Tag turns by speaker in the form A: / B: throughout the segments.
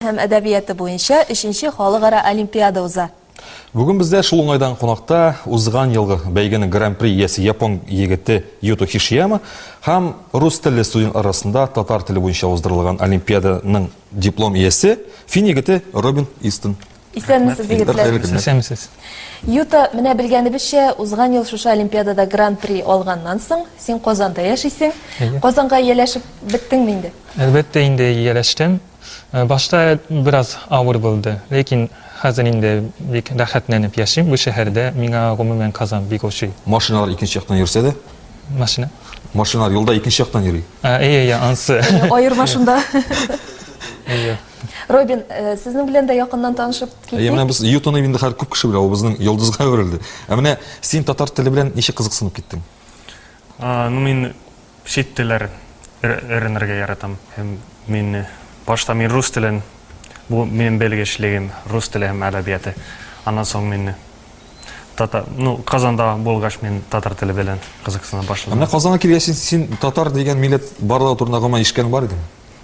A: һәм әдәбияты буенча өченче халыкара олимпиада уза. Бүген бездә шул уңайдан кунакта узган елгы бәйгенең гран-при иясе япон егете Юто Хишияма һәм рус телле студент арасында татар теле буенча уздырылган олимпиаданың диплом иясе фин егете Робин Истон. Исәнмесез, Рәхмәт. егетләр. Хәерле көннәр. Исәнмесез. Юта, менә белгәнебезчә, узган ел шушы олимпиадада гран-при алганнан соң, син Казанда яшисең. Әйе. Казанга ияләшеп беттеңме инде? Әлбәттә инде ияләштем. Э, Башта бераз авыр булды, ләкин хәзер инде бик рәхәтләнеп яшим бу шәһәрдә. Миңа гомумән Казан бик ошый. Машиналар икенче яктан йөрсә дә, Машина. машиналар юлда икенче яктан йөри. А, Әйе, әйе, ансы. Аерма шунда. Әйе. Робин, э, сезнең белән дә якыннан танышып киттек. Әйе, менә без Ютоны инде хәзер күп кеше белә, ул безнең йолдызга әверелде. Ә менә син татар теле белән ничек кызыксынып киттең? А, ну мин чит телләр өйрәнергә яратам. Һәм мин э, башта мин рус телен, бу минем белгечлегем, рус теле һәм әдәбияты. Аннан соң мин э, татар, ну Казанда булгач мин татар теле белән кызыксына башладым. Ә менә Казанга килгәч син, син татар дигән милләт барлыгы турында гомумән ишеткән бар идең?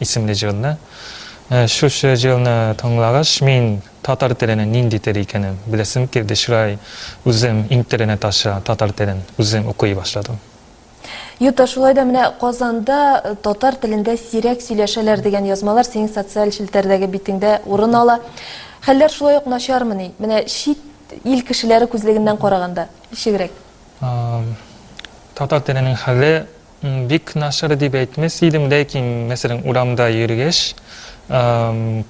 A: исемле җырны. Менә шушы җырны тыңлагач, мин татар теленең нинди тел икәнен беләсем килде, шулай үзем интернет аша татар телен үзем укый башладым. Юта, шулай да менә Казанда татар телендә сирәк сөйләшәләр дигән язмалар синең социаль челтәрдәге битеңдә урын ала. Хәлләр шулай ук начармыни? Менә чит ил кешеләре күзлегеннән караганда, ничегрәк? Татар теленең хәле Бик начар дип әйтмәс идем, ләкин, мәсәлән, урамда йөргәч,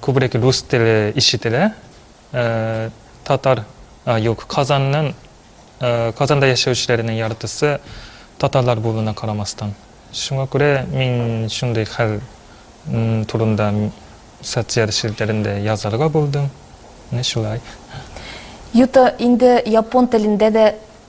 A: күбрәк рус теле ишетелә. Татар, юк, Казанның, Казанда яшәүчеләрнең яртысы татарлар булуына карамастан. Шуңа күрә мин шундый хәл турында социаль челтәрендә язарга булдым. Менә шулай. Юта, инде япон телендә дә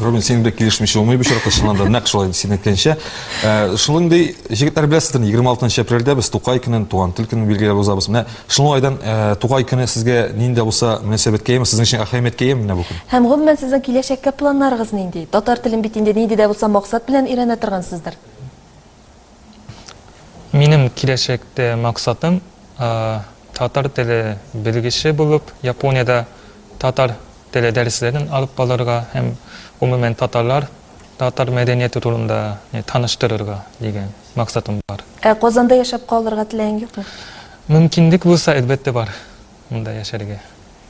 A: Рубин, синең белән килешмичә булмый бу очракта, чыннан да нәкъ шулай син әйткәнчә. Э, шундый җегетләр беләсездер, 26 апрельдә без Тукай көнен, туган тел көнен билгеләп узабыз. Менә шуның айдан э, Тукай көне сезгә нинди булса мөнәсәбәткә яме, сезнең өчен әһәмияткә яме менә бу көн. Һәм гомумән сезнең киләчәккә планнарыгыз нинди? Татар телен бит инде нинди дә булса максат белән өйрәнә торгансыздыр. Минем киләчәктә максатым татар теле белгече булып Япониядә татар теле дәресләрен алып барырга һәм гомумән татарлар, татар мәдәнияте турында таныштырырга дигән максатым бар. Ә Казанда яшәп калырга теләең юкмы? Мөмкинлек булса, әлбәттә бар монда яшәргә.